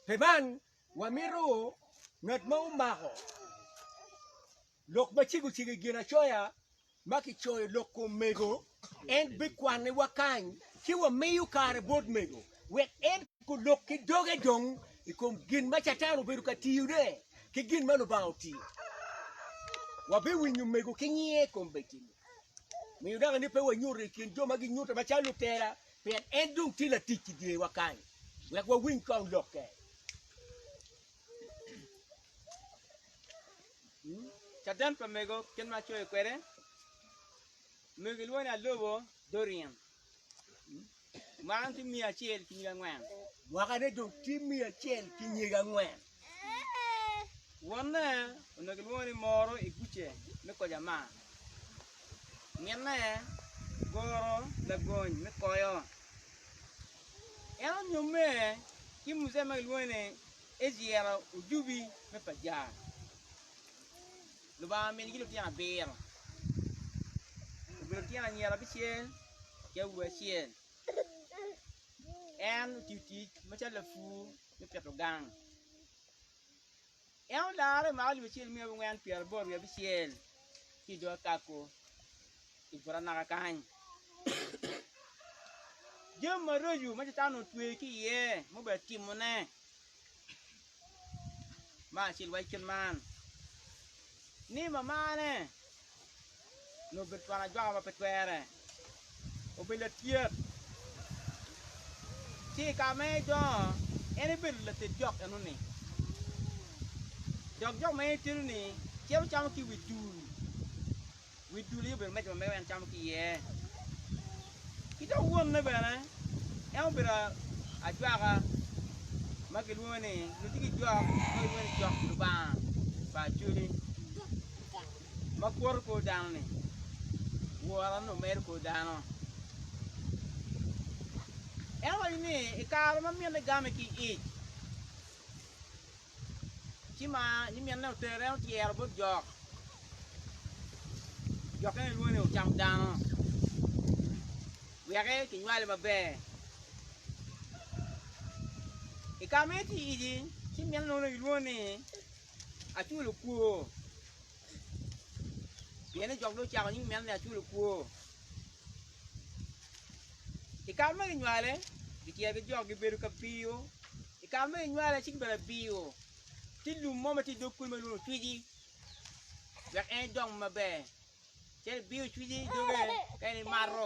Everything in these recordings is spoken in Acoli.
Pi man, wamito ngat ma omako lok ma cego cego i Ginacoya ma kicoyo lok kom mego, en bikwannewa kany ci wamiyo kare bot mego wek en ko lok ki doge dong i kom gin ma Catan obedo ka tiyone ki gin ma Lubanga otiyo. Wabiwinyo mego ki nyiye kombeddi-ni. Miyo naka ni pe wanyute i kin jo ma ginyute macalo lutela Pien en dong tye latic i dyewa kany, wek wawiny ka olokke. Caden pa mego kit ma acoyo kwede, mego gilwongo ni alobo Dorian. Mwaka-ni tye miya acel ki nyig angwen. Mwaka-ni dong tye miya acel ki nyig angwen. Wonne onongo kilwongo ni Moro i guce me koyo amaa. Minne goro lagony me koyo. En onyomme ki mujee ma kilwongo ni Ejiera Ojubi me Pajar. Lubanga ominigi lutino abiro. Obedo lutino anyira abicel ki awobi acel. En otiyo tic macalo lapur. me pito gang. En olarre ma alip acel miya wangwen pyeraboro wiye abicel ki i dog akako i buto anaka kany. Jami maraco ma Catan onongo otweyo ki iye ma obedo timone, me acel waco kit man ni mamane nyo obedo twon ajwaka ma pe twere, obedo latyet. Ci i kare ma en dongo, en ebedo lated jok eno-ni, dok jok ma en etedo-ni cito camo ki i wi dul, wi dul aye obedo meja ma mege ma en camo ki iye. Ki dok wonne bene, en obedo ajwaka ma kilwongo ni, nongo tye ki jok ma kilwongo ni jok Lubanga pa Acholi. ma kwoto kor dano-ni, wora nongo mero kor dano. En owaco ni i kare ma minne game ki ic, ci ma nyiminne otere en otyero bot jok, jokke en lwongo ni ocam dano weke kinywale maber. I kare ma en tye i ic-ci minne nongo ilwongo ni. aculo kwor. Pien ni jok dong ocako nying meno ni aculo kwor. I kare ma kinywale, gityer ki jok gibedo ka biyo. I kare ma kinywale ci gibedo ka biyo. Tye lum mo ma tye i dog kulu ma kilwongo ni cwici wek en edong maber. Cen ibiyo cwici i doge ka en imato.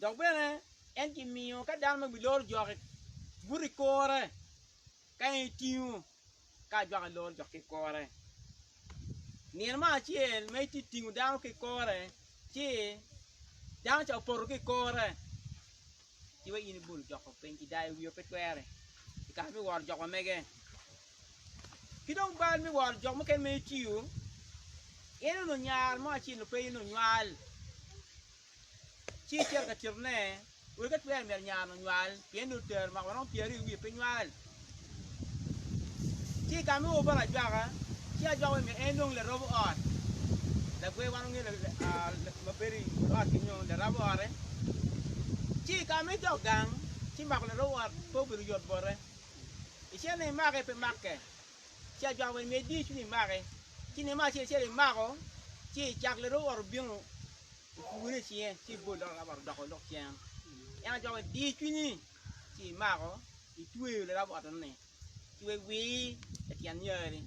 Dok bene en gimiyo ka dano ma wi lor jokke buto i kore, ka en etingo ka ajwaka lor jokke i kore. Nino mo acel ma itye tingo dano ki i kore ci dano ca opoto ki i kore, ci wa in ibolo jokko piny ci dayo wiyo pe twere i kare me woro jok ma mege. Ki dong bal me woro jok mukene ma itiyo, in onongo nyar mo acel pe in onywal. Ci itito ka titone, wek atwer myero nyarni onywal, pien dong tero omako maromo pyeraryo i wiye pe nywal. Ci igame woko bot ajwaka, ci ajwaka wek myero en dong larobo ot, lagwe wan wangeyo ma bedo i but ot kenyo larabo ote. Ci igame i dog gang, ci mako larobo ot pe obedo yot bote, icenne imake pe make. ci ajwako ni myero idiyicwiny imake, ci ineno ma acel acel imako, ci cak lere owoto obino opugone i cinge ci bol dok lere owoto odoko lok cen, en ajwako ni diyicwinyi ci imako itweyo lere owotoni ci wek wii ityen nyari,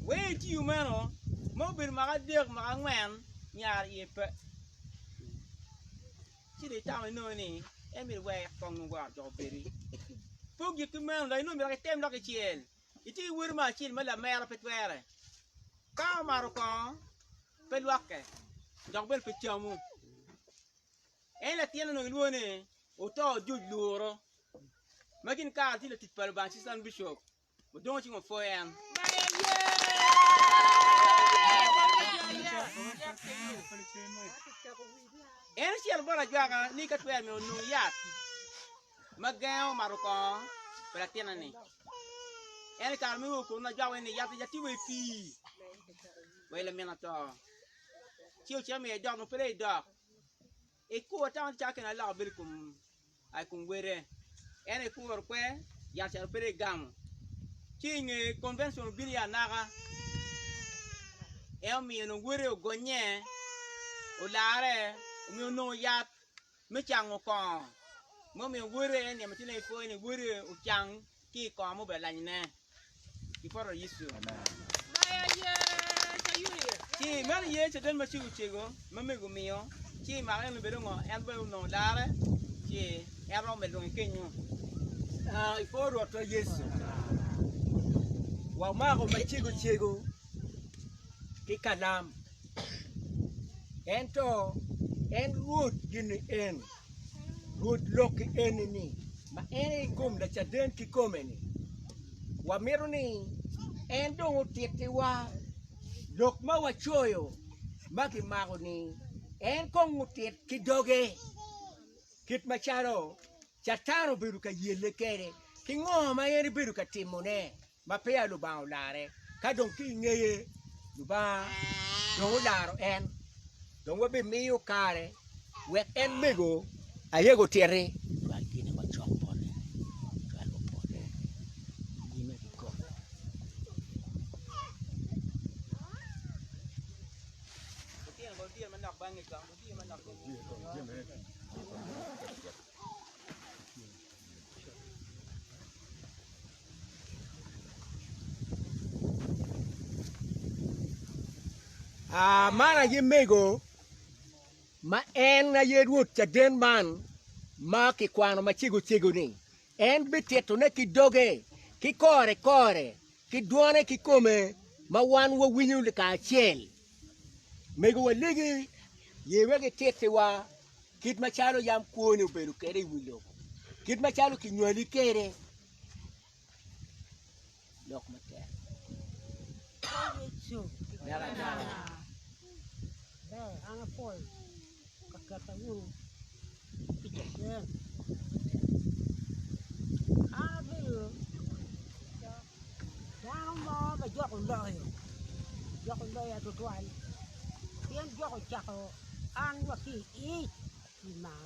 wee itiyo meno ma obedo mwaka adek mwaka angwen nyar iye pe. ci dong itamo inongo ni en myero iwek kong nongo gwaro doko bedi. Poggi ki meno, lok inongo myero dok item lok icel. Itye ki woti mo acel ma lamera pe twere. Ka omato kongo, pe lwokke, dok bene pe camu. En latin onongo ilwongo ni oto ojuc luro, ma gin kare tye latic pa Lubanga Assistant Bishop. Odongo cing opwo en. En ocito bot ajwaka ni ka twero myero onong yat ma gengo mato kongo pa latinne-ni. En i kare meno okono ajwaka ni yat yat tye wa i pii wa i lamin oto. Ci ocito miyo idok nongo pe dong idok. Ekuro tama calo kene aloko bedo ikom aa ikom wele ento ekuro kwe yat calo bedo egamo ci inge convention obino iye anaka en omiyo dong wele ogonye olarre omiyo onongo yat me cango kongo momiyo wele en niang macalo en pwoyo ni wele ocang ki i kom obedo lanyne i poto Yecu. Ci meno ye caden ma cego cego ma mego omiyo, ci i maka en obedo ngo? En bene onongo larre, ci en romo medo dong i kenyo. Ah, i kor Rwotwa Yecu, wamako ma cego cego ki kalam, ento en Rwot gin ni en. Rwod lok-ki eni ni, ma en aye kom Lacaden kikome-ni, wamito ni en dong otittiwa lok ma wacoyo ma kimako-ni. En kong otit ki doge kit macalo Catan obedo ka yelle kwede, ki ngo ma en ebedo ka timone. ma peya Lubanga olare, ka dong ki i ngeye Lubanga dong olaro en, dong wabimiyo kare wek en mego ayega otiti. Cwal gin ma cok bote, cwal obote nyime ki kome. Aa, man aye mego ma en aye Rwot caden man ma kikwano macego cego-ni, en bititone ki doge, ki kore kore, ki dwone kikome, ma wan wawinyo kacel. Mego walegi, ye wek itittiwa. kit macalo yam kwoni obedo kwede i wi lobo, kit macalo kinywali kwede. Lok matek. Yecu. Dano mo ma jok oloyo, jok oloya tutwal pien jok ocako an wa ki i ic pi maa,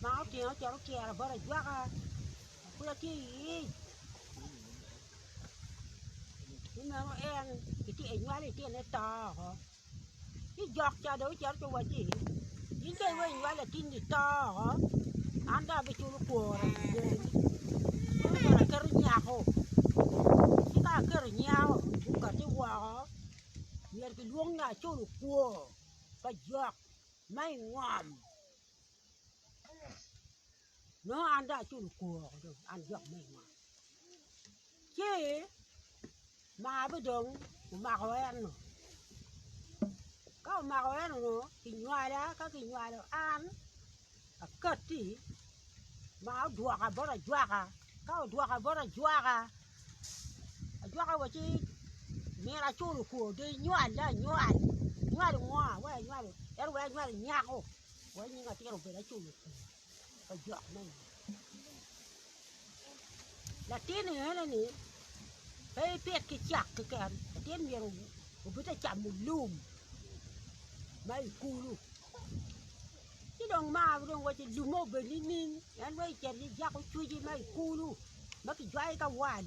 maa otinga ocito ocira bot ajwaka an pud atye i ic ki meno en nywali litine to oko. ci jok ca dong ocito ci owacci in dong iweko inywal latinni to oko, an dong abiculo kwora i dyereni ci myero aketo nyako, ci ka aketo nyako i bukati woko myero gilwong ni aculo kwor pa jok ma i ngom. nongo an dong aculo kwor woko dong an jok me i ot, ci margi dong omako en nongo ka omako en nongo kinywala ka kinywalo an akati ma odwoka bot ajwaka ka odwoka bot ajwaka, ajwaka wa ci myero acul kwor dong inywal dong anywal, inywalo ngo? Iwero anywal nyako. Wai nying atir obed acung i kin pa jok me ot. Latin ni ene ni pe ipit ki cak keken, latin myero obed te camo lum ma i kulu. Ci dong mar dong waci lumme obed nining en wai icit ijako cwici ma i kulu ma kijwayo ki awal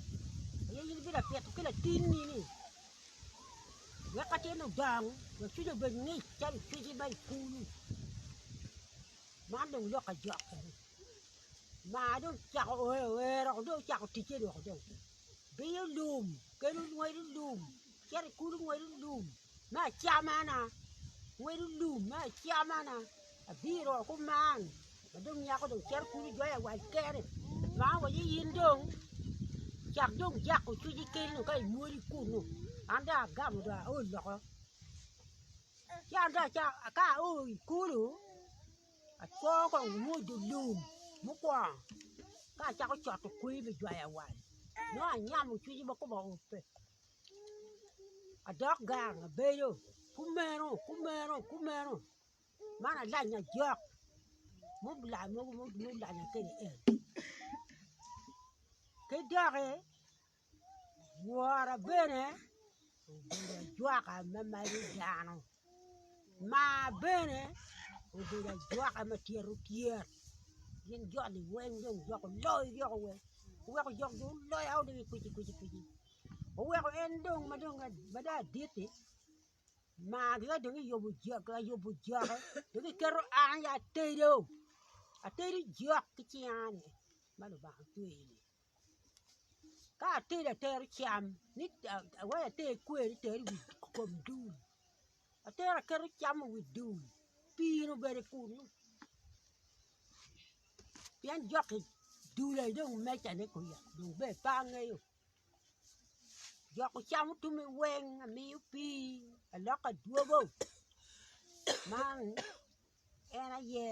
aye in ibino pito ki latinni ni wek ka tye ludong wek cwinyi obed ngic calo ipigi ma i kulu, man dong lok ajok kene, maa dong ocako oer oer dong ocako ticce dong dong biyo lum kene ngwedo lum cito i kulu ngwedo lum me acamana ngwedo lum me acamana Abiro oko man, ma dong nyako dong cito kulu jwayo awac kene, ma awaco ni in dong cak dong jako cwinyi keni dong ka inywoli kunu, an dong agamo dong ao loko. Ci an dong acako ka ao i kulu, acwo kong onyo dye lum mukwongo ka acako coto kweyi me jwayo awac, nongo anyamo cwinyi ma koma ope, adok gang abedo kumeno kumeno kumeno. Man alanya jok mubila mogo mulanya kede en ki doki wora bene obedo ajwaka me magi dano, maa bene obedo ajwaka me tyero tyer gin joni weng dong dok oloyo yoko weng oweko jok dong oloyo o dong i kweci kweci kweci oweko en dong ma dong aditi Mar ya dong iyubo jok ayubo jokke dong iketo an aye atedo, atedo jok ki cinga-ni ma Lubanga otweyoni ka atedo atero cam ni wai ater kweri ter iwi kom dul atero aketo cam i wi dul pii-nu bene kunu pien jokki dul aye dong mecane kwija dong ber pe angeyo Joko cam otumi weng amiyo pii aloko adwogo man en aye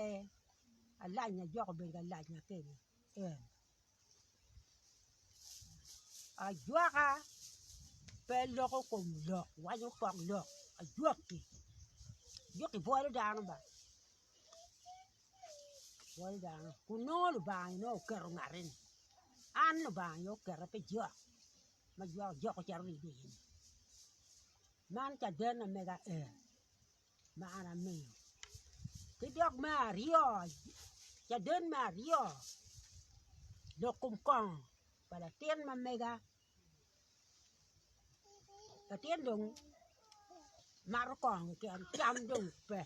alac na jok obedo ka lac na keni en ajwaka pe loko kom lok wanyo pok lok ajwaki jwaki bwolo dano ba Kun nongo Lubanga nongo oketo ngat-ti ni, an Lubanga aye oketa pi jok ma jwako jok ocito ni idwogi ni, man cadenna mega ee ma an amiyo. Ki dok me aryo, caden me aryo, lok kom kongo pa latin ma mega. latin dong mato kongo keken cam dong pe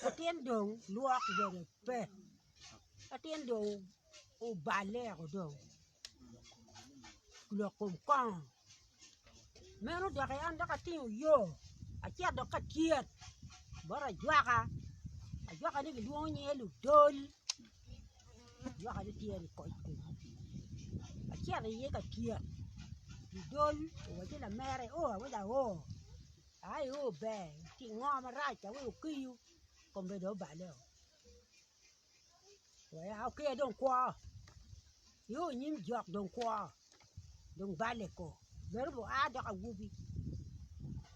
latin dong lwok bene pe latin dong oballe woko dong lok kom kongo meno doki an dok atingo oyoo acito dok ka tyet bot ajwaka ajwaka ni gilwongo nyinge ludol. Lwak aye tye ni koc kom acel aye ka tyek i dol owaco ni lamere o awaco awo ai o ber ci ingo marac awaco ni okiyo kome dong obale wek a oker dong kwo i o nyim jok dong kwo dong bale ko bedo bu a dok awobi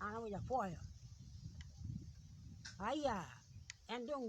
an awaco apwoyo aya en dong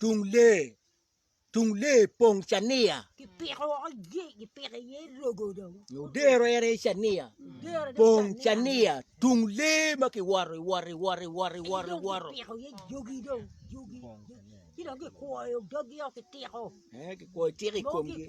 Tung lee Tung lee pong cania Odero en aye cania pong cania Tung lee ma kiwoto iwoto iwoto iwoto iwoto iwoto Kikwoyo itika i komgi.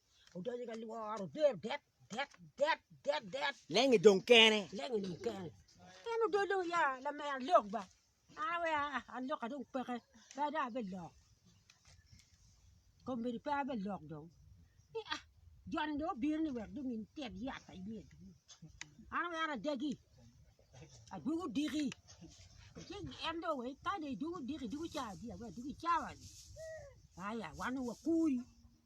Odonyo ka lworo der det det det det det. Lengi dong kene. Lengi dong kene. En odong dong ya lamera lok ba. An we alok adong peke. Pe dong abe lok. Kombedi pe abe lok dong. Ni ah joni dong obiro ni wek dong in tet yat pa iye. An we an adagi. Adugu diki. Ci en dong we ka dong idugu diki dugu cawa dia we dugu cawa. Aya wan wakuri.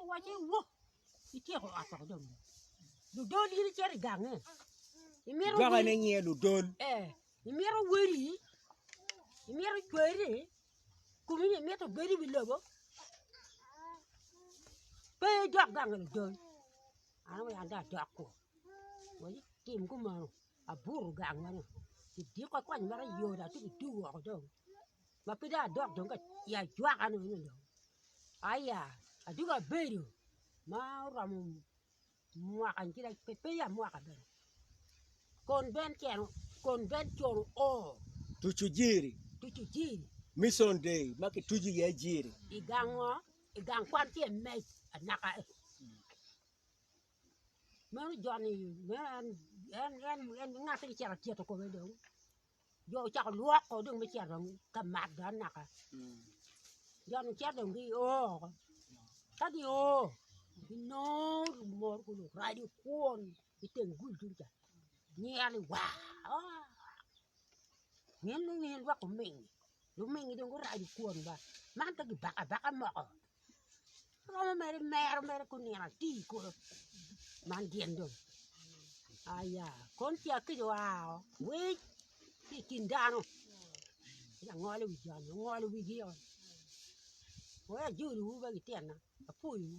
Owacci, Wo, ityeko ot woko dong. Ludol in icito i gange. Imito Jwaka ne nyiye ludol. Eh, imito weri, imito cweri, kumi ni imito bedi wi lobo. Pe idok gange ludol. An awe an da adok kwo. Wacci, tim kumeno. Aburu gang meno. Idiko kony meno yoda ci gidugo woko dong. ma pe dong adok dong ka i ajwaka ni eno dong aya atye ka bedo ma oromo mwaka pe ya mwaka bene kon ben tyeno kon ben con o tucu jiri tucu jiri mission day ma ki tucu iye jiri i gang ngo i gang kwan ki emec anaka i meno joni meno en en en en ngati ni cito tyeko kome dong jo ocako lwok ko dong me cito ka mat dong naka jo ni cito dong gio woko ka gio ginongo lumor ki luraco kwon ki teng gul tung ca myel ni waa waa myel ni myel dok oming oming dong guraco kwon ba man ka gibako abaka moko Romo mere mero mere kun nino ati kono man gin dong aya kon ca kic oa oo winy ki i kin dano ci langolo i wi jami ongolo wigi oo weko ajoliwu wek ityena apwoyiwu.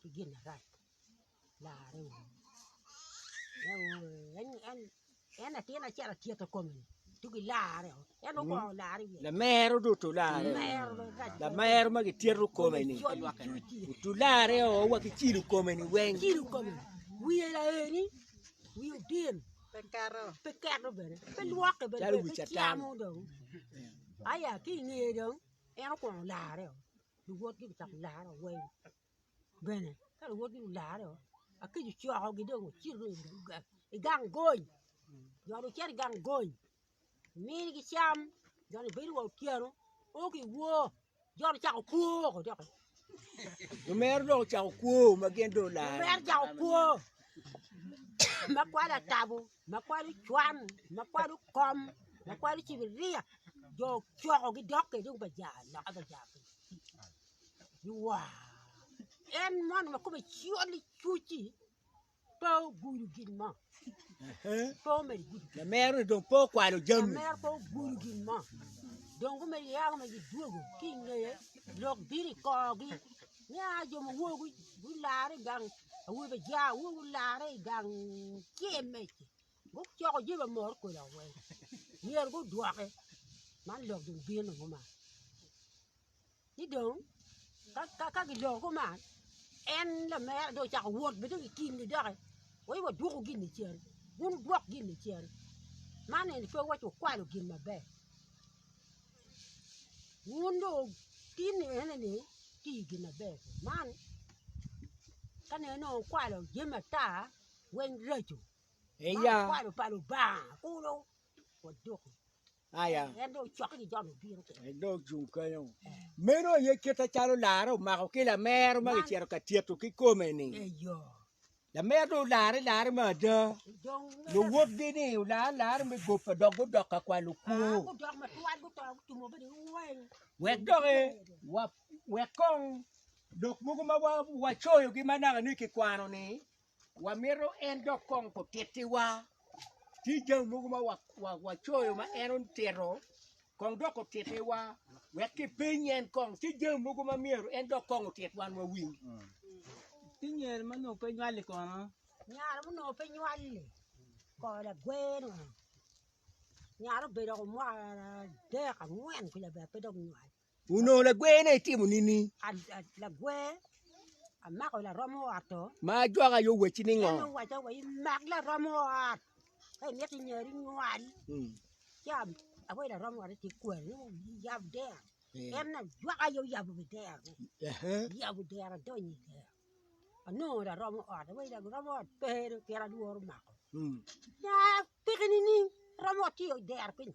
ki gin marac larre wunu en latin acel atyeta kome tugi larre o en dong okwongo larre iye lamero dong otu larre lamero ma gityeto kome ni otu larre o wa ki cilo kome ni weng cilo kome wiye laeni wiye otin pe keto pe keto bene pe lwokke bene pe camo dong aya ki inge dong en okwongo larre o luwotgi gucako laro awany bene ka luwotgi gularo akic ocokogi dong ocito dong i gang gony jo dong gicito i gang gony omigi cam jo dong gibedo wa otyeno o ki wor jo dong ocako kwor doki omero dong ocako kwor ma gin dong olaro omero ocako kwor ma kwade atabo. ma kwalo cwan, ma kwalo kom, ma kwalo cibiria, jo ocokogi dok kede baja loka baja iwaa en mono ma kome col icuci pe ogudo gin mo pe omedo gudo gin Lamero-ni dong pe okwalo mo jami. lamero pe ogudo gin mo dong gumedo yako ma gidwogo ki ingeye lok bino i korgi Nia jo ma wogo gulare i gang awobi pa ja wogo gulare i gang cem mece gucoko je ba mor kola we myero gudwoke man lok dong bino kuma ci dong ka ka ka giloko kuma en lamera dong ocako wot bene i kingi doki we wadwoku gin i cen gun wudwok gin i cen man eni pe waci wukwalo gin maber. wun dong wutin ni ene ni ti gin maber man ka neno ni wukwalo jami ata weng raco ma wukwalo pa Lubanga kulu waduku en dong ocok ki jami bino kene meno aye kite calo lara omako ki lamer ma kicito ka tyeto ki kome-ni. Lamerre olare larre me ada, luwotgi ni olare larre me gope dok gudok ka kwalo kwo. Wek dok e, wa, wek kong lok mogo ma wa, wacoyogi ma naka ni kikwano-ni, wamito en dok kong kutittiwa. tye jami mogo ma wacoyo ma en otito kong dok otittiwa wek kipeny en kong tye jami mogo ma myero en dok kong otit wan wawiny. Ki nyere ma nongo pe nywal-li kono? Nyare ma nongo pe nywal-li kor lagweno nyare obedo woko mwaka adek angwen kwija pe dok nywal. Onongo lagwene etimo nini? Lagwer amako laromo ot oo. Ma ajwak aye owacci ni ngo? En owacca wa imak laromo ot ka imito inyari nywal mm. ci awaci laromo ot ati kwari yab dero mm. en na jwak aye oyabo wi dero yabo dero adonyo i dero anongo laromo ot awaci laromo ot pe pien alworo mako mm. na peki nining romo ot tye i dero piny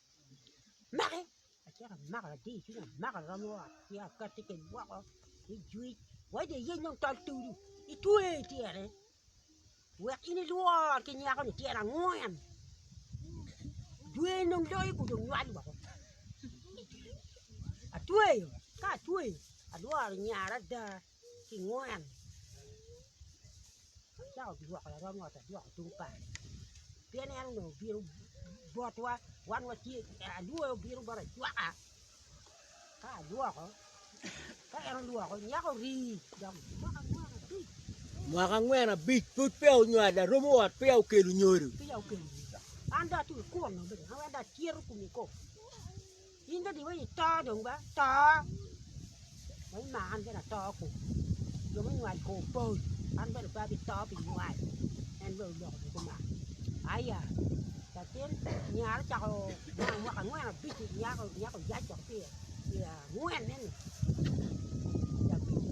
amake acito amako latir i cwiny amako aromo ot ci akati kede woko me jwec wai dong iyec dong tol towi itwe ityene wek in ilwor ki nyako ni tyene angwen jwer dong loyo ku dong nywal woko atweyo ka atweyo alworo nyara ada ki ngwen cako dwoko larom ot adwoko tung par pien en onongo obino botwa wan watye alwoyo obino bot acwaka ka adwoko ka en odwoko nyako ori dok mwaka angwen abic mwaka angwen abic pud peya onywalo larom ot peya okelo nyodo peya okelo nyodo an dong atye kunu bene an weng dong atyero kome kong In dong diwa i to dong ba to ma imaka an bene ato ku jo munywal ko opol an bene pe abito pi nywal en bene oloko dong kumalo aya latin nyare ocako nino mwaka angwen abic nyaka nyaka oyac dok pi angwen neni pi abic-ci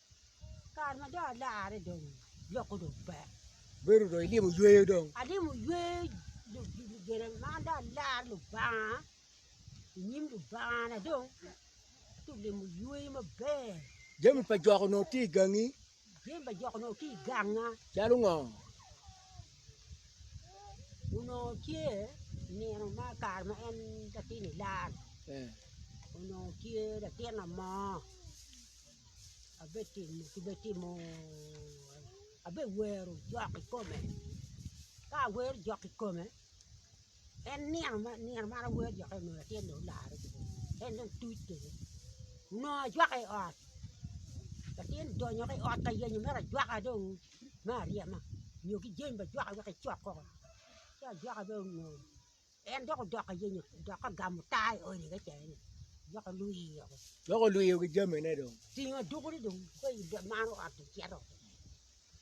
Kare ma dong alarre dong lok-ku dong pe. Bedo dong idimo yweyo dong. Adimo yweyo gine man dong alar Lubanga i nyim Lubangana dong ci olimo yweyo maber. Jami pa jok onongo tye i gangi. Jami pa jok onongo tye i ganga. Calo ngo? Onongo tye nino ma kare ma en latin ilar. Eh. Onongo tye latin amo. abetimo abewero jok i kome ka awero jok i kome en nino ma awero jok i kome tye nongo olarre kede en dong tuc kede onongo ajwake i ot latin donyo ki i ot ka yenyo mere ajwaka dong me aryema nyo ki jami bajwaka wek ecok koko ci ajwaka dong onongo En dok odok ka yenyo dok ka gamo taa i odi kacel-li, dok olwiyo. Dok olwiyo ki jamine dong. Tingo adukune dong ka i maro ot ocito.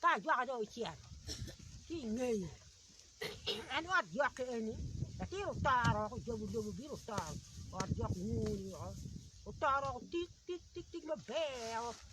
Ka ajwaka dong ocito ki i ngeye, en ot jok eni latin otoro woko, ojobo lobo obino otoro ot jok nyur-ri woko, otoro woko tik tik tik tik maber woko.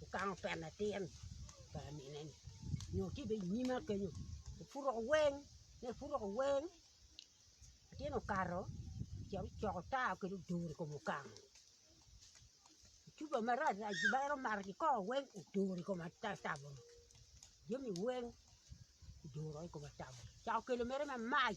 Wukaŋo pena atir pa amine-ni nyo tye bene i nyima kenyo, epuro weng, ka epuro weng, latin okato ocito ocoko tar kwede oduro i kom okamu, cuba marac rac dano omato kikoko weng oduro i kom atatabuni, jami weng kiduro i kom atabuni, ocako kelo mere mamac.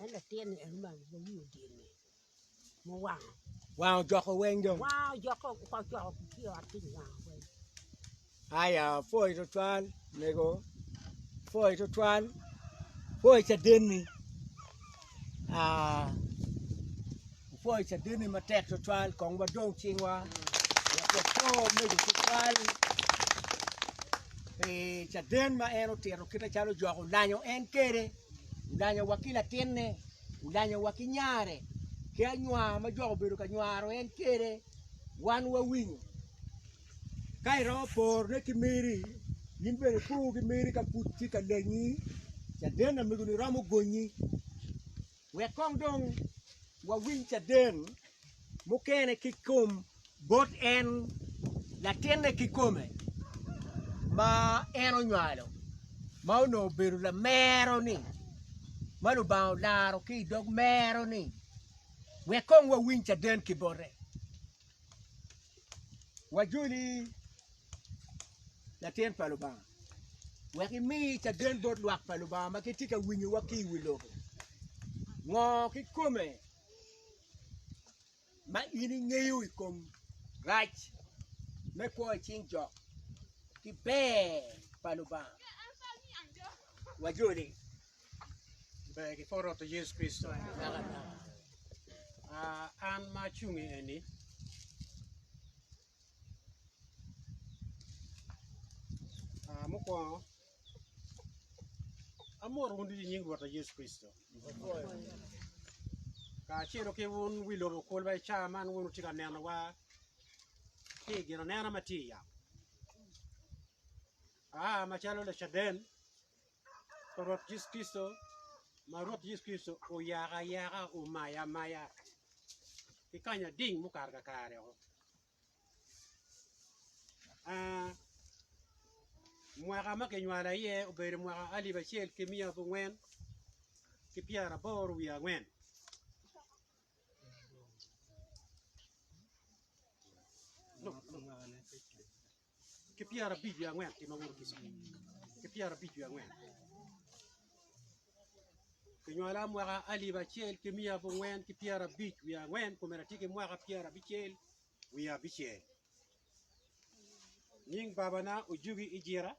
En latin-ni en omako gin ma wiye odye-ni muwango. Wango ojoko weng dong. Wango ojoko oko ojoko ki i ot piny wango weng. Aya poi tutwal mego poi tutwal poi cadenni ah, poi cadenni matek tutwal kong wadong cingwa wapo mego tutwal pi caden ma en otito kite calo ojoko lanyo en kede. Odanyowa ki latinne, odanyowa ki nyare, ki anywa ma jok obedo ka nywaro en kede, wan wawinyo. Ka iromo porone ki meri, in bene ipo ki meri ka pud tye ka lenyi, caden amegoni romo gonyi. Wek kong dong wawiny caden mukene ki i kom bot en latinne kikome ma en onywalo ma onongo obedo lamero-ni ma Lubanga olaro ki i dog mero-ni wek kong wawiny caden ki bote. Wajoli latin pa Lubanga wek imi caden bot lwak pa Lubanga ma gitye ka winyowa ki i wi lobo. Ngo kikome? ma in ingeyo i kom rac me kwo i cing jo ki ber pa Lubanga? Wajoli. Ber ki pwod Rwot Yecu Kricito. Ah, an ma acung i eni, ah, mukwongo Amwoto wun ducu i nying Rwotwa Yecu Kricito, kacelo ki wun wi lobo kulu ma i caa man wun wutye ka nenowa ki i ginanena ma tye i yamo. Aa macalo Lacaden pa Rwot Yecu Kricito, ma Rwot Yecu Kricito oyaka ayaka, omaya amaya ki kanya ading mukato kakare-o. Mwaka ma kinywala iye obedo mwaka alip acel ki miya abongwen ki pyeraboro wiye angwen. ki pyerabic wiye angwen ki ma woto ki cwiny ki pyerabic wiye angwen kinywala mwaka alip acel ki miya abongwen ki pyerabic wiye angwen komera tye ki mwaka pyerabicel wiye abicel nying babana ojugi i jira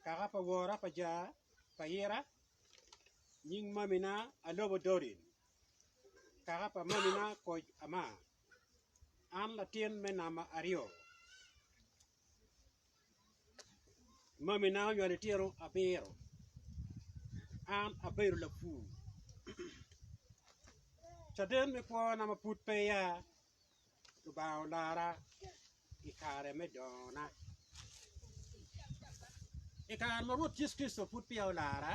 kaka pa wora pa ja pa ira nying mamina alobo dorin kaka pa mamina koc ama An latin me namba aryo. Mamina onywalo litino abiro. An abedo lapur. Caden me kwona ma pud pe ya Lubanga olara. i kare me dongona. I kare ma Rwot Yecu Kricito pud peya olara,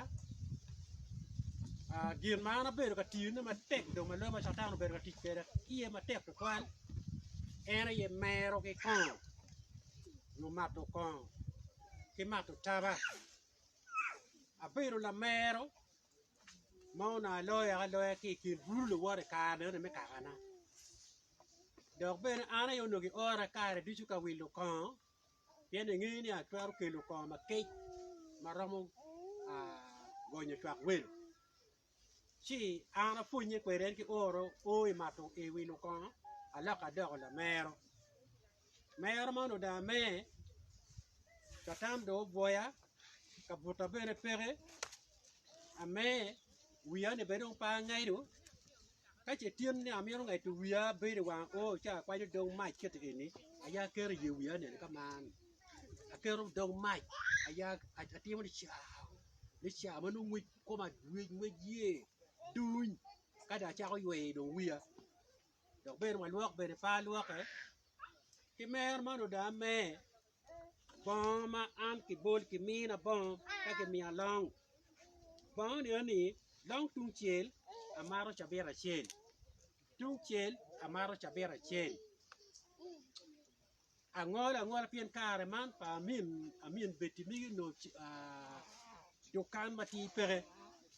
gin ma an abedo ka tiyone matek dong ma lwak ma Catan obedo ka tic kweda iye matek tutwal en aye mero ki kongo nyo mato kongo ki mato taba. Abedo lamero ma onongo aloyo aloya ki i kin bulu luwot i kare meno me kakana dok bene an aye onongo giora kare ducu ka wilo kongo pien engeyo ni atwero kelo kongo makec ma romo gonyo cwak welo ci an apwonye kwede en ki oro o i wilo kongo alok adoko lamero. Mero man odaa me, Catan dong obwoya, ka buta bene peke, ame, wiya ni bene dong pe angedo, ka ce tyen ni amito ngedo wiya abedo i wang oo ci akwanyo dog mac kiti eni aya aketo iye wiya ni eni ka man, aketo dog mac aya atimo ni caa ni caa ma nongo ngwec koma ngwec yer duny ka dong acako yweyo dong wiya. dok bene walwok bene pe alwoke ki mer man oda amer bongo ma an kibol kimina bongo ka kimiya long bongo ni eni long tungcel amaro cabit acel tungcel amaro cabit acel Angolo angola pien kare man pa amin amin Betty migi onongo dukan matir peke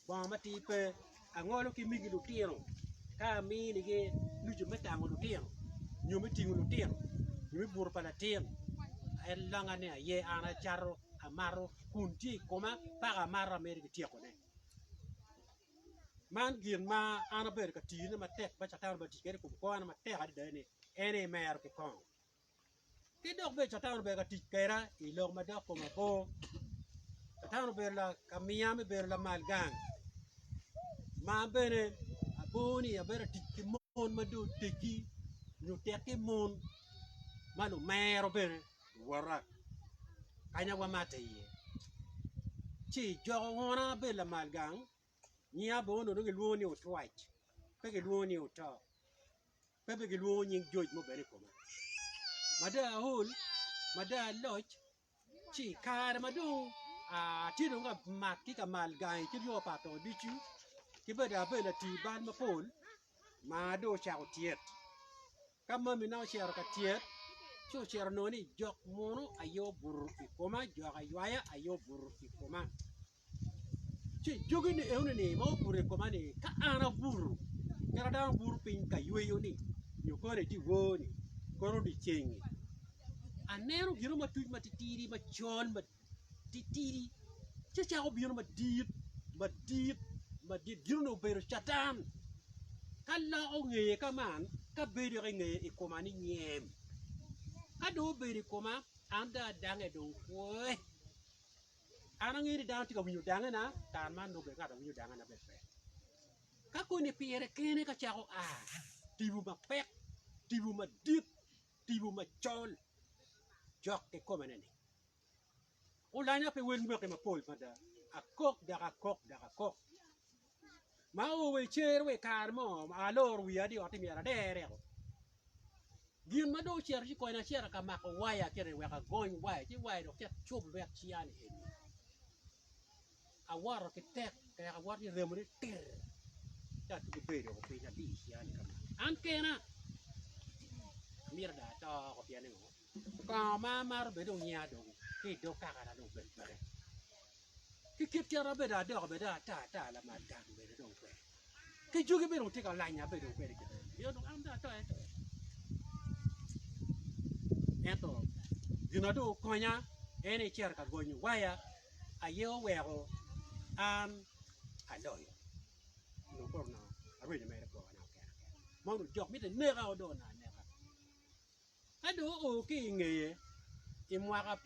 bongo matir pe angolo ki migi lutino ka aminigi nucu me tango lutino nyo me tingo lutino nyo me buto pa latin en longa ni aye an acato amato kun tye i koma paka amato amito ki tyekone. man gin ma an abedo ka tiyone matek ma Catan obati kwede i kom kwo na matek adada ni en aye imero ki kongo. Ki dok bene Catan obedo ka tic kweda i lok ma dok koma bor. Catan obedo la ka miya me bedo lamal gang ma an bene abor ni abedo ka tic ki mon ma dong oteggi nyo tekki mon ma lumero bene. Wora, kanya wamatte iye, ci ijoko wona ma bedo lamal gang, nyiya bene onongo dong gilwongo ni otwac, pe gilwongo ni oto, pe bene gilwongo nying joc mo bene i kome. Mada aol, mada aloc, ci i kare ma dong atye dong ka mak ki ka mal gangi ki ryo pa atoko ducu, ki bene dong abedo latii bal mapol ma dong ocako tyet, Ka mamina ocito ka tyet, ci ocito onongo ni jok munu aye obuto i koma, jok aywaya aye obuto i koma. Ci jogi ni eno ni ma obuto i koma ni ka an abuto, kara dano buto piny ka yweyo ni nyo kore i dyewor ni, kore odyecengi. Aneno gino ma tuc ma titidi macol ma titidi ci ocako bino madit, madit, madit, gin onongo obedo Catan. Ka loko ngeye ka man, ka bedo yoko i ngeye i koma ni nyem. Ka dong obedo i koma, an dong adange dong pwoe. An angeyo ni dano tye ka winyo dangena, kare man nongo bene ngat ma winyo dangena bene pe. Ka koni pire kene ka cako a, tipo mapek, tipo madit, tipo macol cok ki kome-ni. Olanya pi wel mwaki mapol mada, akok dok akok dok akok. Ma oo wa i cer wa i kare mo ma aloro wiya ni otti myero adereo. Gin ma dong ocito ci konya acito ka mako waya kene wek agony waya ci waya dong ket cub lwet ciya ni eni. Awoto ki tek tek awoto ki remo ni tir ci atugo ber dok opinya ati i ciya-ni kama an kena amyero dong ato oko pien ni ngo kongo ma amaro bene dong onya dong ki i dog kakana dong obed peke ki kit kit ma bedo adoko bene dong ata ata lamal gang bene dong pe. Ki jogi bene wutye ka lanya abedo dong kwede kite pien dong an dong ato ato. Ento gin ma dong okonya en ni icito ka gonyo waya aye oweko an aloyo onongo koro onongo arwenyo mere kwona keken keken mono jok mitte neka o dong onongo aneka. Ka dong oo ki i ngeye i mwaka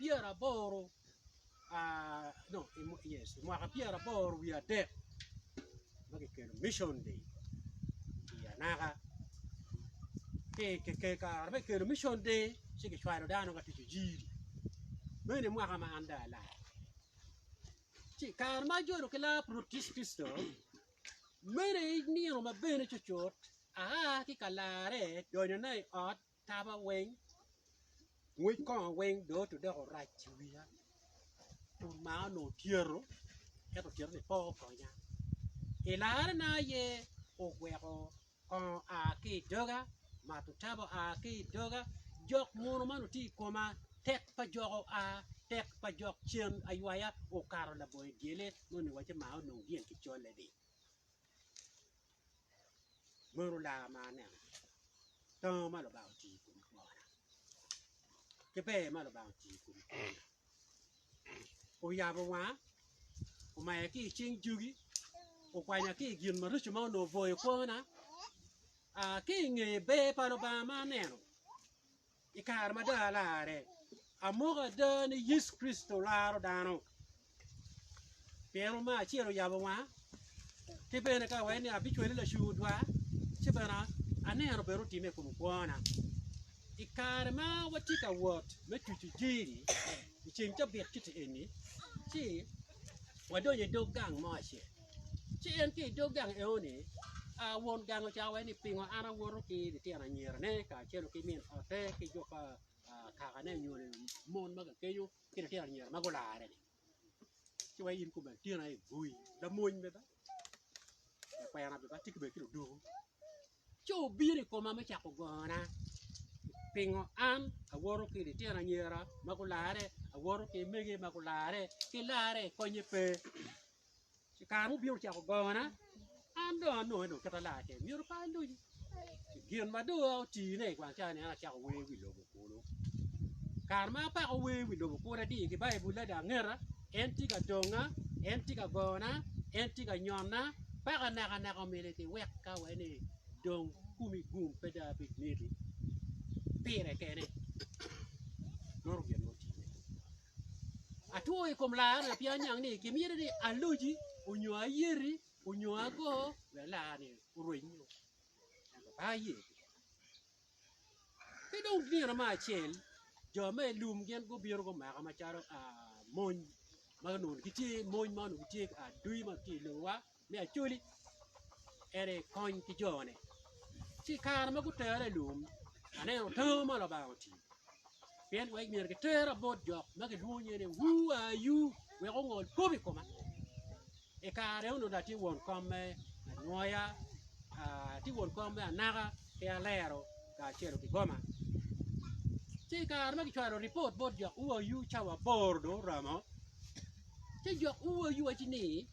pyeraboro wiye adek ma kikelo Mission Day i anaka, kare me kelo Mission Day ci kicwalo dano ka tic ojiri meno i mwaka ma an dong alak ci kare ma ajolo ki Laput Yecu Kricito. Mene i nino ma bene cucut aa ki ka larre donyona i ot taba weng, ngwec kongo weng dong otude dok orac i wiya. Kun maa onongo otyero, ento otyero-ni pe okonya. I larrena aye oweko Kongo a ki i doga, mato tabo a ki i doga, jok munu man otye i koma, tek pa jok oa, tek pa jok cen aywaya okato labongo i dyele, moni waco ma onongo dyel ki colle di. Meno lar ma aneno, tongo ma Lubanga otiyo kwede i kom kwona, ki ber ma Lubanga otiyo kwede i koma. oyabo wanga, omaya ki i cing jogi, okwanya ki i gin marico ma onongo obwoyo kwona. Aa, ki i nge ber pa Lubanga ma aneno i kare ma dong alarre, amoko ada ni Yecu Kricito laro dano. pien Oma acel oyabo wanga, ki bene ka iwaco ni abicwali lacu odwa, ci bene aneno bene otimme i kom kwona. I kare ma watye ka wot me tuco jeri i ceng cabit kiti eni, ci wadonyo i dog gang mo acel, ci en ki i dog gang enoni, aa, won gang ocako wai ni pingo an awoto ki litino anyirane kacel ki min ote ki jo pa kakane nyo mon ma kakeco ki litino anyira ma gularre-ni. ci weko in kobbe latin aye boi lamony bene ba lakwena bene ba tye kobbe ki ludoko ci obino i koma me cako gona pingo an awoto ki litino anyira ma gularre awoto ki mege ma gularre ki larre konye pe I kare mubino cako gongona, an dong anongo en oketa laa keken, myero pe aluci. Gin ma dong otine i gwang cani, an acako wer wi lobo kulu. Kare ma apako wer wi lobo kulu adiyo ki Baibulla dong angeta, en tye ka donga, en tye ka gona, en tye ka nyonna, paka naka naka omyero eti wekka wai ni dong komi gum pe dong abed neti. Pire kene, meno gin ma otine. Atwo i kom lar na pien aniang ni kimyero ni aloji onyo ayeti onyo ago wek lar-ni orweny nyo. Ento pe aye. Ki dong nino me acel jo me i lum gin gubino gumaka macalo mony ma onongo gitye mony ma onongo gitye adwi ma gitye i lowa. me Acholi en aye kony ki jone. Ci i kare ma gutere i lum, aneno tango ma Lubanga otiyo. Pien wek myero gitera bot jo ma gilwongo nyinge ni Wu Ayu wek ongol kop i koma. I kare onongo dong atye won kom me anwoya, ah, atye won kom me anaka ki alero kacelo ki goma. Ci i kare ma gicwalo ripot bot jo Wu Ayu cawa aboro dong oromo, ci jo Wu Ayu waci ni,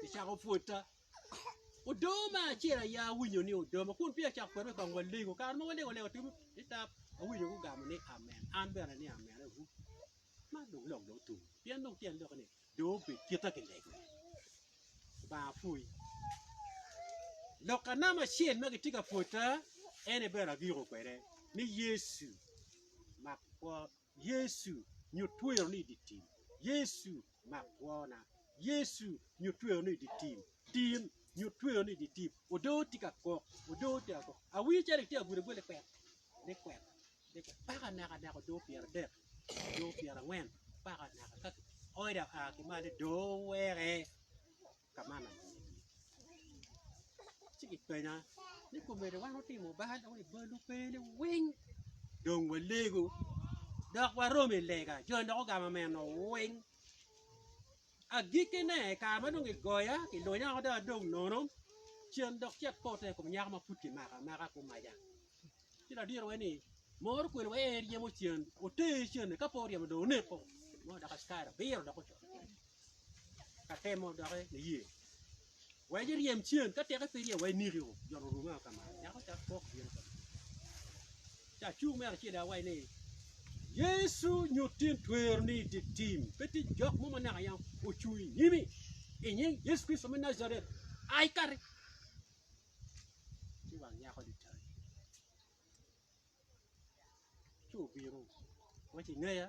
Kicako pwota. Odoma acel aya awinyo ni odoma kun peya acako kwero i kong walego. Kare ma walego lego timo titap awinyo gugamo ni amen. An bene ni amen agu. Man dong lok dong otum. Pien dong tyen lok ni dong obed kita kilego. Banga pwoyi. Lok anam acel ma gitye ka pwota ene bene agiko kwede ni Yecu mak kwo Yecu, nyut tweroni i dye tim. Yecu, mak kwona. Yecu, nyut tweroni i dye tim. Tim, nyut tweroni i dye tim. Odoo tye ka kok, odoo tye ka kok. Awinyo calo itye ka gwedo gwel, likwet, likwet, paka naka naka odoo pyeradek, odoo pyerangwen, paka naka ka kioyo dong aa ki malo dong weke. ka man atir, ci gipenya ni komedi wan otimo bal wa i bal mukene weng dong walego dok waromo i lega joni dok ogamo meno weng agikkine i kare ma dong gigoya gilunya woko dong adong nono cen dok ci apote i kom nyako ma pud kimako amaka gumaca ci ladirowa ni mor okwelo wa en ryemo cen oter cen-ni ka pe oryemo dong oneko nongo dok askari obiro dok ocito kwede. ka temo doki niye wek iryem cen ka teke pe iryem wek iniki o joni orumi o kama nyako ca kok bino kama ca cung me acel awaci ni Yecu nyutti ni tweroni i di tim pe tye jok mo ma naka yam ocung i nyimi i nying Yecu Kricito me Najaret ai kati ci wang nyako ni tai ci obino waci ingeya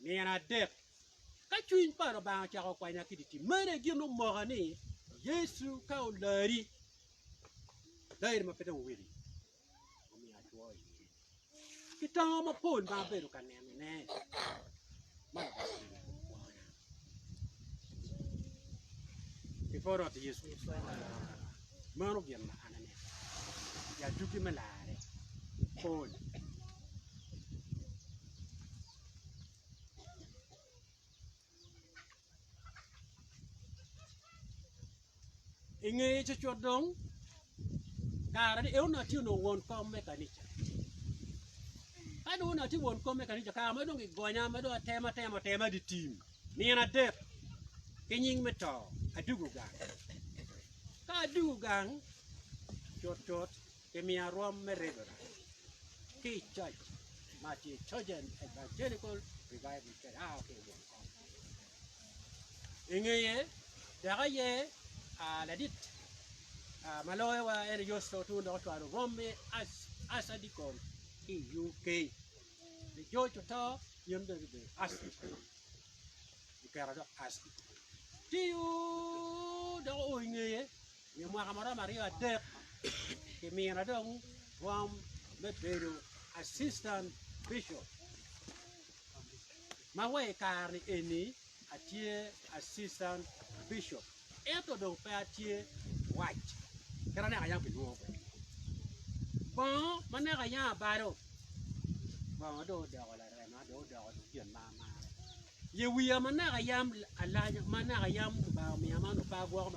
Nino adek ka cwiny pa Lubanga ocako kwanya ki dye tim, meno aye gin omoka ni Yecu ka olari, olari ma pe dong owili, omiyo atwo iye. Kitongo mapol ma abedo ka nenone ma Lubanga otimo i kom kwona. Before Rwot Yecu maro gin ma an aneno, ya dugi me larre pol. I ngeye cucut dong, kare ni Eunak tye onongo won kom me kanica. Ka dong Eunak tye won kom me kanica, kare ma dong gigonya ma dong atema atema atema di tim nino adek ki nying me to, adugo gang. Ka adugo gang cutcut, Kimiya rwom me ridona ki i coc ma tye Chosen Evangelical Revival Church a ki i Wong Kong. I ngeye tek aye ah, ladit ah, ma loyowa en Yosef Otun dok ocwalo rwom me as, Asa Dikon ki i UK. Ni George oto, in bene ibedo Asa Dikon. Ikera dok Asa Dikon. Tiyo dok oo i ngeye I mwaka ma romo aryo adek kimina dong kom me bedo Assistant Bishop, ma wa i kare-ni eni atye Assistant Bishop, ento dong pe atye wac kit ma naka yam kilwongo kwede. Bongo ma naka yam abalo, bongo dong odoko larema, dong odoko dong gin ma amarre. Ye wiya ma naka yam alanya, ma naka yam Lubanga omiya man opa gwoko.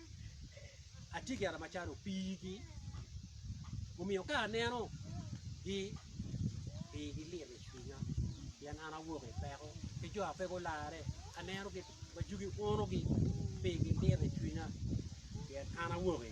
atye ki Aramacan opii ki omiyo ka aneno gi pii gi lit i cwinya pien an awok i peko ki jo ma pe gularre aneno gi majugi uno gi pii gi lit i cwinya pien an awok i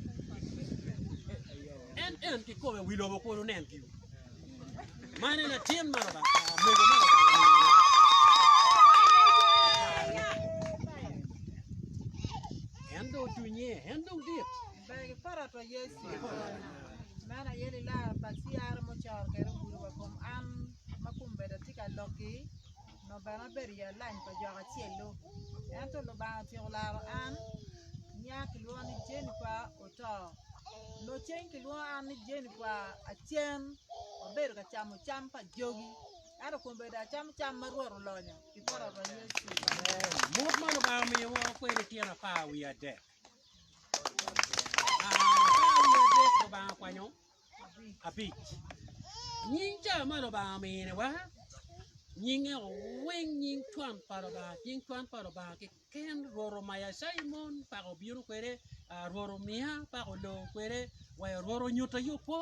En en ki kome wi lobo kun onen giu. Man en atin ma Lubanga ah, mego ma Lubanga omiyone. En dong tunye, en dong dit. Bagi para pa Yesu. Man aye lilaro pa CR mucoro kede ogudo wa kom an ma kum beda tye ka lokki. Nongo bene abedo i alany pa jok acel-lu. Ento Lubanga otyeko laro an. Nya kilwonga ni Jennifer oto. Nongo cen kilwongo an ni Jennifer acen abedo ka camo cam pa jogi. Ento kong bed acamo cam ma Rwot olonyo pi poto pa Yecu. Buk ma Lubanga omiyo woro kwede tyen apar wiye adek. Apar wiye adek Lubanga okwanyo abic. Nying cawa man Lubanga ominiwa, nyinge owiny nying cwan pa Lubanga, nying cwan pa Lubanga kiken Rwot omaya cayi mon pa obino kwede, Rwot omiya pa olo kwede, wa Rwot onyuta yo kwo,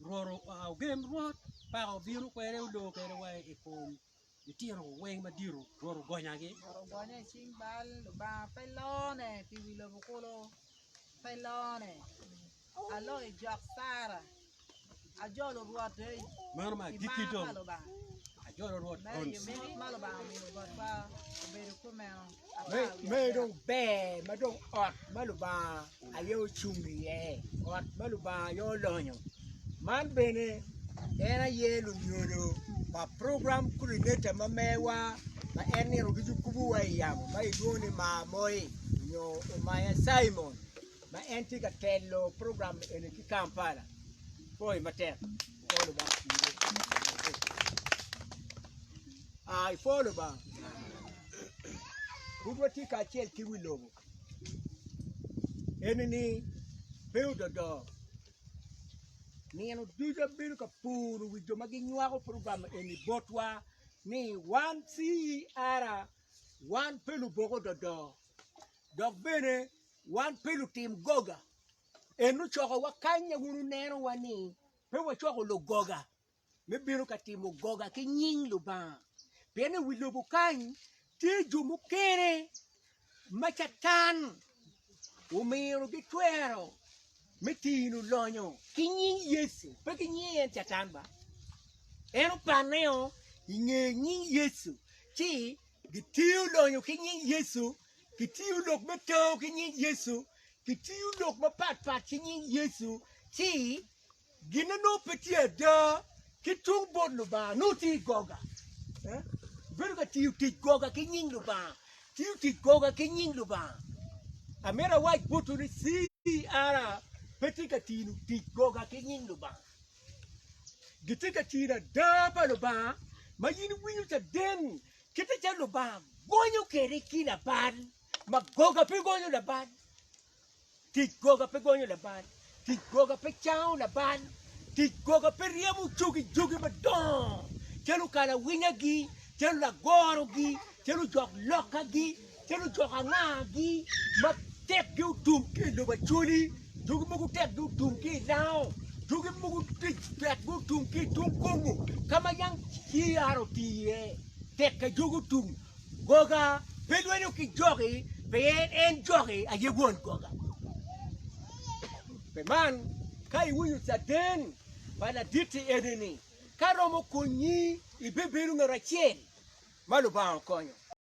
Rwot ogen Rwot pa obino kwede olo kwede wa i kom litino weng madito Rwot ogonyagi. Rwot ogonya i cing bal, Lubanga pe lone pi wi lobo kulu, pe lone. Aloo i jok Cira, ajolo Rwot ei Meno me agikki kimar pa dong, Lubanga. ajolo Rwot Meno gonci. yomit ma Lubanga omiyo botwa obedo kumeno. Meno dong ber ma dong ot ma Lubanga aye ocung iye, ot ma Lubanga aye olonyo. Man bene en aye lunyodo pa program coordinator ma mewa ma en nino ducu kubowa i yamo ma gilwongo ni Mar Moi nyo Omaya Cimon ma en tye ka telo program eni ki Kampala. Pwoyo matek. Pwoyo Lubanga. Aa i pol Lubanga. Pud watye kacel ki wi lobo eni ni pe ododo. Nino ducu abedo ka puro wi jo ma ginywako program eni botwa ni wan CER wan pe lubok ododo dok bene wan pe lutim goga. En ocokowa kany wun wunenowa ni pe wacoko lugoga. me bino ka timo goga ki nying Lubanga, pien i wi lobo kany tye jo mukene ma Catan omino gitwero me tino lonyo ki nying Yecu, pe ki nying en Catan ba. En opanneo i nge nying Yecu, ci gitiyo lonyo ki nying Yecu, gitiyo lok me tao ki nying Yecu, gitiyo lok mapatpat ki nying Yecu, ci Gin onongo pe tye ada ki tung bot Lubanga nongo tye i goga. Bedo ka tiyo tic goga ki nying Lubanga, tiyo tic goga ki nying Lubanga. Amito awac botwu ni CR pe tye ka tiyo tic goga ki nying Lubanga. Gitye ka tiyo ada pa Lubanga ma in iwinyo caden kite calo Lubanga gonyo kwede ki labal ma goga pe gonyo labal. Tic goga pe gonyo labal, tic goga pe cango labal, tic goga pe ryemo cogi jogi madongo calo kalawinyagi, calo lagorogi, calo jok lokagi, calo jok angagi ma tekgi otum ki i lobo Acholi, jogi mogo tekgi otum ki i Lango, jogi mogo tic tekgi otum ki i tung Kongo ka ma yam ciyar otii iye, tekka jogi otum. Goga pe lwenyo ki joki, pien en joki aye won goga. Pi man, ka iwinyo caden pa laditti eni-ni, ka romo konyi, ibebedo ngat acel ma Lubanga okonyo.